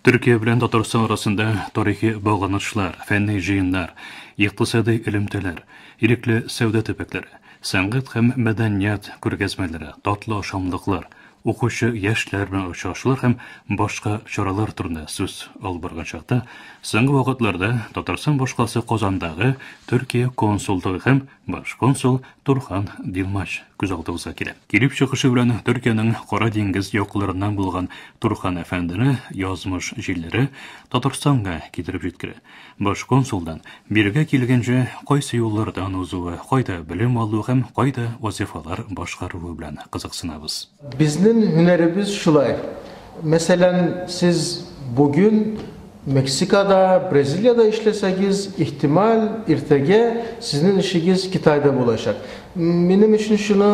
Төркия белән Татарстан арасында тарихи багланышлар, фәнни җыеннар, икътисадый элемтәләр, ирекле сәүдә төбәкләре, сәнгать һәм мәдәният күргәзмәләре, татлы ашамлыклар, укучы яшьләр белән очрашулар һәм башка чаралар турында сүз алып барган чакта, соңгы вакытларда Татарстан башкаласы Казандагы Төркия консулдыгы һәм Баш консул Турхан Дилмаш күз алдыбызга килә. Килеп чыгышы белән Төркиянең Кара диңгез якларыннан булган Турхан әфәндене язмыш җилләре Татарстанга китереп җиткерә. Баш консулдан бирегә килгәнче кайсы юллардан узуы, кайда белем алу һәм кайда вазифалар башкаруы белән кызыксынабыз. Безнен һөнәребез шулай. Мәсәлән, сез бүген Мексикада, Бразилиядә эшләсәгез, ихтималь, иртәгә сезнен эшегез Китайда булачак. Минем өчен шуны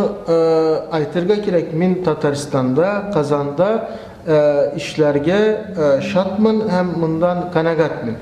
әйтергә кирәк, мин Татарстанда, Казанда эшләргә шатмын һәм мондан канәгатьмен.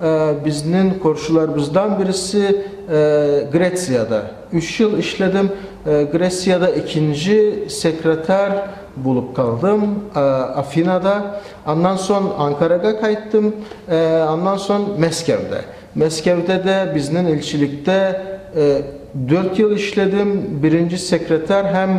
Безнең коршыларбыздан берсе Грециядә. Үч ел эшләдем Грециядә, икенҗе секретарь булып калдым Афинада. Аннан сон Анкарага кайттым, аннан сон Мәскәүдә. Мәскәүдә дә безнең илчелектә дүрт ел эшләдем, беренҗе секретарь һәм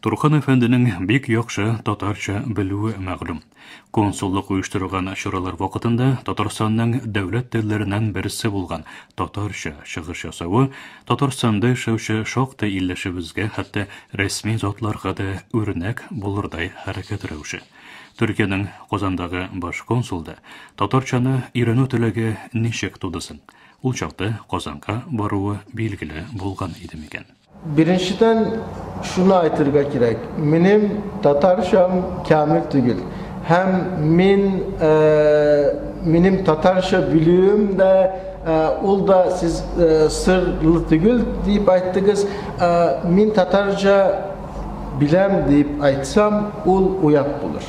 Турхан әфәнденең бик яхшы татарча белүе мәгълүм. Консуллык оештырылган чаралар вакытында Татарстанның дәүләт телләреннән берсе булган татарча чыгыш ясавы Татарстанда яшәүче шактый илләшебезгә, хәтта рәсми затларга да үрнәк булырдай хәрәкәт рәвеше. Төркиянең Казандагы баш консулда татарчаны өйрәнү теләге ничек туды соң? Ул чакта Казанга баруы билгеле булган иде микән? Беренчедән, шуны әйтергә кирәк, минем татарчам камил түгел. Һәм мин, минем татарча белүем дә, ул да сез сырлы түгел дип әйттегез. Мин татарча беләм дип әйтсәм, ул оят булыр.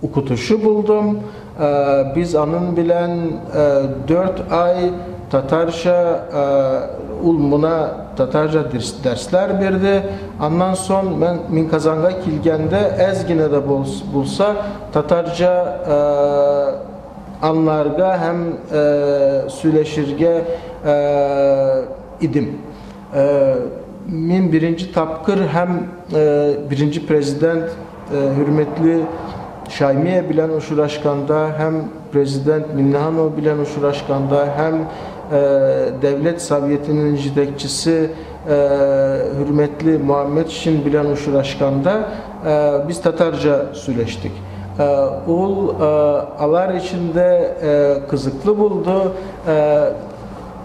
Укытучы булдым. Без аның белән дүрт ай татарча, ул мона татарча дәрсләр бирде. Аннан сон мин Казанга килгәндә әз генә дә булса татарча анларга һәм сөйләшергә идем. Мин беренче тапкыр һәм беренче президент хөрмәтле Шаймия белән очрашканда һәм президент Миннеханова белән очрашканда һәм Дәүләт Советының җитәкчесе хөрмәтле Мөхәммәтшин белән очрашканда без татарча сөйләштек. Ул алар өчен дә кызыклы булды.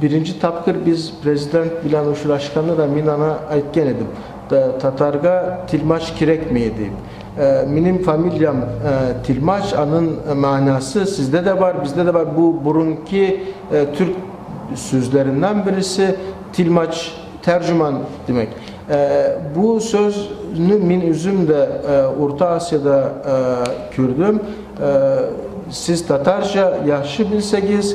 Беренче тапкыр без Президент белән очрашканда да мин аңа әйткән идем, татарга Тельмач кирәкми дип. Минем фамилиям Тельмач, аның мәгънәсе сездә дә бар, бездә дә бар, бу борынки төрк сүзләреннән бересе, Тельмач, тәрҗеман димәк. Бу сүзне мин үзем дә Урта Асиядә күрдем. Сез татарча яхшы белсәгез,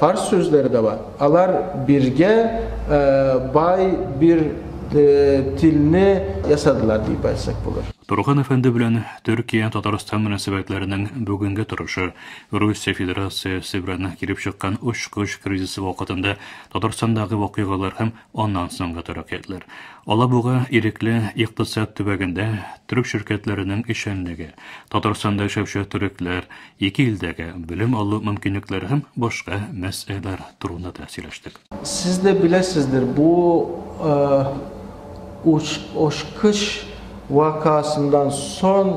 Фарс сүзләре дә бар. Алар биргә бай бир тилне ясадылар дип әйтсәк булыр. Турхан әфәнде белән Төркия, Татарстан мөнәсәбәтләренең бүгенге торышы, Русия Федерациясе белән килеп чыккан очкыч кризисы вакытында Татарстандагы вакыйгалар һәм аннан соңгы тәрәкыятләр. Алабуга ирекле икътисад төбәгендә төрек ширкәтләренең эшчәнлеге, Татарстанда яшәүче төрекләр, Ике илдәге белем алу мөмкинлекләре һәм башка мәсьәләләр турында да сөйләштек. Сез дә беләсездер, бу ачкыч вакыасыннан соң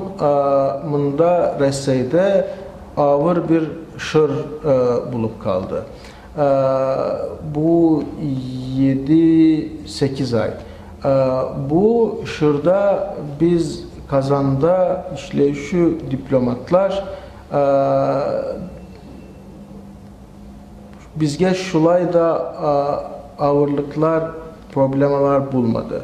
монда, Рәсәйдә, авыр бер чор булып калды. Бу җиде-сигез ай. Бу чорда без Казанда эшләүче дипломатлар безгә шулай да авырлыклар, проблемалар булмады.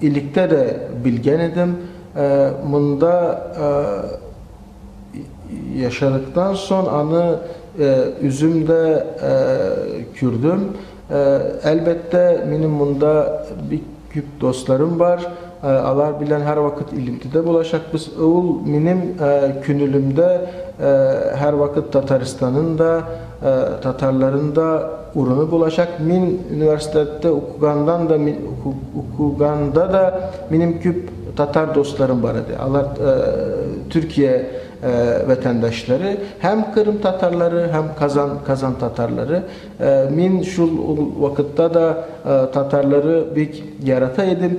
Электә дә белгән идем, монда яшәдектан сон аны үзем дә күрдем. Әлбәттә, минем монда бик күп достларым бар, алар белән һәрвакыт элемтедә булачакбыз. Ул минем күнелемдә һәрвакыт Татарстанын да, татарларын да. Урыны булачак. Мин университетта укыгандан да, укыганда да минем күп татар дусларым бар иде. Алар Төркия ватандашлары, һәм Кырым татарлары, һәм Казан, Казан татарлары. Мин шул вакытта да татарлары бик ярата идем.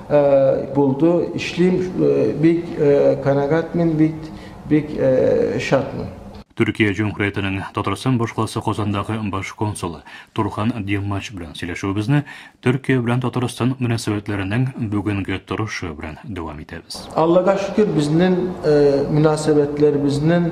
Булды, эшлим, бик канәгатьмен, бик шатмын. Төркия Җөмһүриятенең Татарстан башкаласы Казандагы баш консулы Турхан Диммач белән сөйләшүебезне Төркия белән Татарстан мөнәсәбәтләренең бүгенге торышы белән дәвам итәбез. Аллага шөкер, безнең мөнәсәбәтләребезнең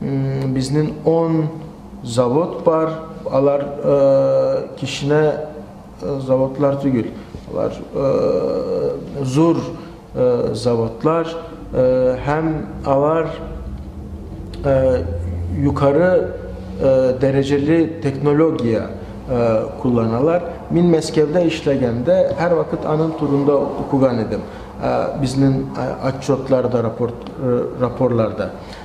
Безнең он завод бар, алар кечкенә заводлар түгел, алар зур заводлар һәм алар юкары дәрәҗәле технология кулланалар. Мин Мәскәүдә эшләгәндә һәрвакыт аның турында укыган идем, безнең отчетларда, рапортларда.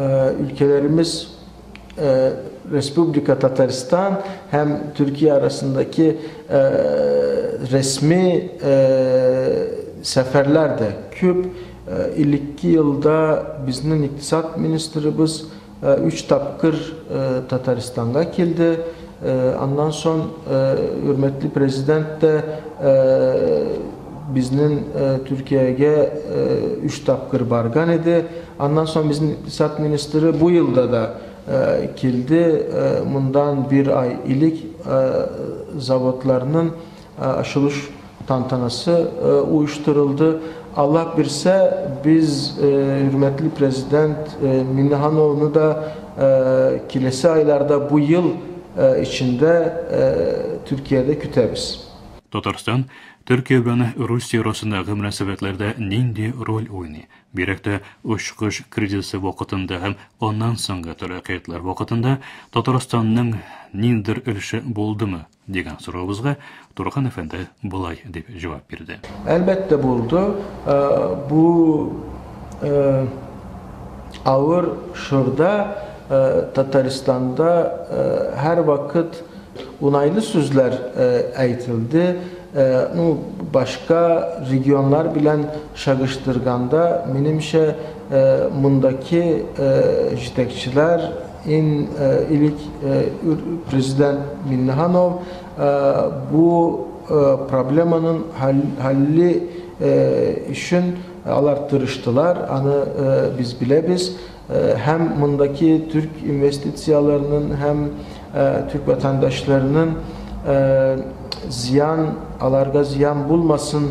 Өлкәләремез Республика Татарстан һәм Төркия арасындагы рәсми сәфәрләр дә күп. 52 елда безнең икътисад министрыбыз өч тапкыр Татарстанга килде. Аннан сон Хөрмәтле Президент та безнен Төркиягә үч тапкыр барган иде. Аннан сон безнен Икътисад министры бу елда да килде, мондан бер ай элек заводларнын Ачылыш тантанасы оештырылды. Аллаһ бирсә, без хөрмәтле Президент Миннехановны да киләсе айларда, бу ел эчендә Төркиядә көтәбез. Татарстан, Төркия белән Русия арасындагы мөнәсәбәтләрдә нинди роль уйный? Бигрәк тә очкыч кризисы вакытында һәм аннан соңгы таләкыятьләр вакытында Татарстанның ниндидер өлеше булдымы? Дигән соравыбызга Турган әфәнде болай дип җавап бирде. Әлбәттә булды. Бу авыр чорда Татарстанда һәрвакыт унайлы сүзләр әйтелде. Ну, башка регионнар белән чагыштырганда, минемчә, мондакы җитәкчеләр Ин элек президент Миннеханов бу проблеманың хәлле өчен алар тырыштылар, аны без беләбез. Һәм мондагы төрк инвестицияләренең һәм төрк ватандашларының зыян, аларга зыян булмасын,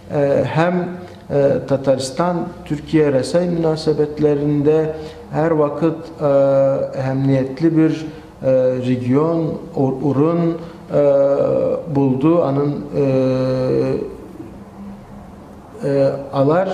Һәм Татарстан Төркия-Рәсәй мөнәсәбәтләрендә һәрвакыт әһәмниятле бер регион, урын булды, анын алар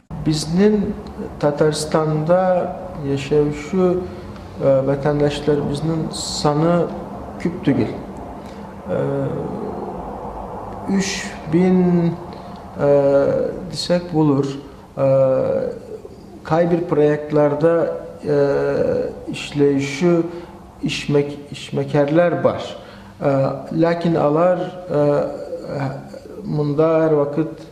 Безнең Татарстанда яшәүче ватандашларыбызның саны күп түгел. 3000 дисәк булыр. Кайбер проектларда эшләүче эшмәкәрләр бар. Ләкин алар монда һәрвакыт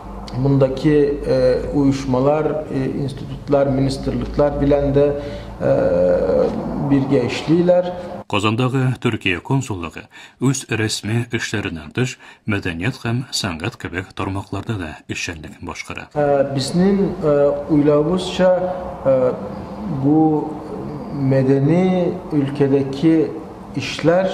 Мондагы оешмалар, институтлар, министрлыклар белән дә бергә эшлиләр. Казандагы Төркия консуллыгы үз рәсми эшләреннән тыш, мәдәният һәм сәнгать кебек тармакларда да эшчәнлеген башкара. Безнең уйлавыбызча, бу мәдәни өлкәдәге эшләр,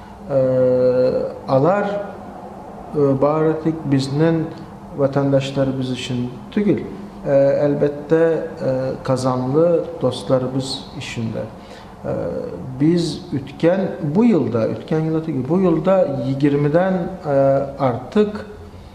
Алар бары тик безнең ватандашларыбыз өчен түгел, ә, әлбәттә, казанлы дусларыбыз өчен дә. Без үткән, бу елда, үткән елда түгел, бу елда егермедән артык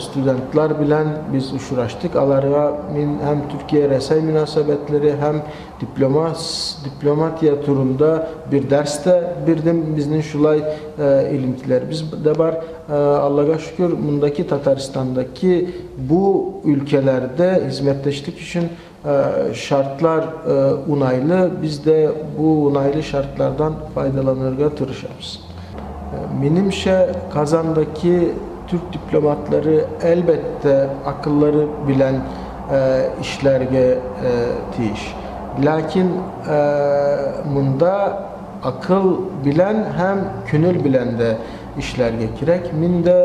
студентлар белән без очраштык, аларга мин һәм Төркия-Рәсәй мөнәсәбәтләре һәм дипломатия турында бер дәрс тә бирдем. Безнең шулай элемтәләребез дә бар. Аллага шөкер, мондагы Татарстандагы бу өлкәләрдә хезмәттәшлек өчен Шартлар унайлы, без дә бу унайлы шартлардан файдаланырга тырышабыз. Минемчә, Казандаки Түрк дипломатлары, әлбәттә, акыллары белән эшләргә тиеш. Ләкин монда акыл белән һәм күнел белән дә эшләргә кирәк. Мин дә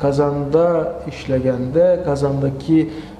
Казанда эшләгәндә, Казандаки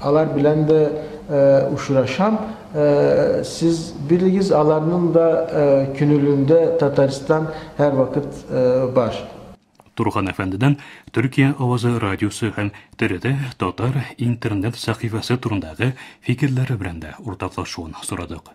Алар белән дә очрашам. Сез белегез, аларның да күнелендә Татарстан һәрвакыт бар. Турган әфәндедән Төркия авазы радиосы һәм ТРТ Татар интернет сәхифәсе турындагы фикерләре белән дә уртаклашуын сорадык.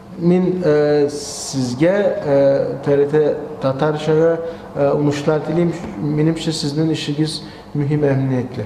Мин сезгә TRT Татарчага уңышлар телим. Минемчә, сезнең эшегез мөһим әһәмиятле.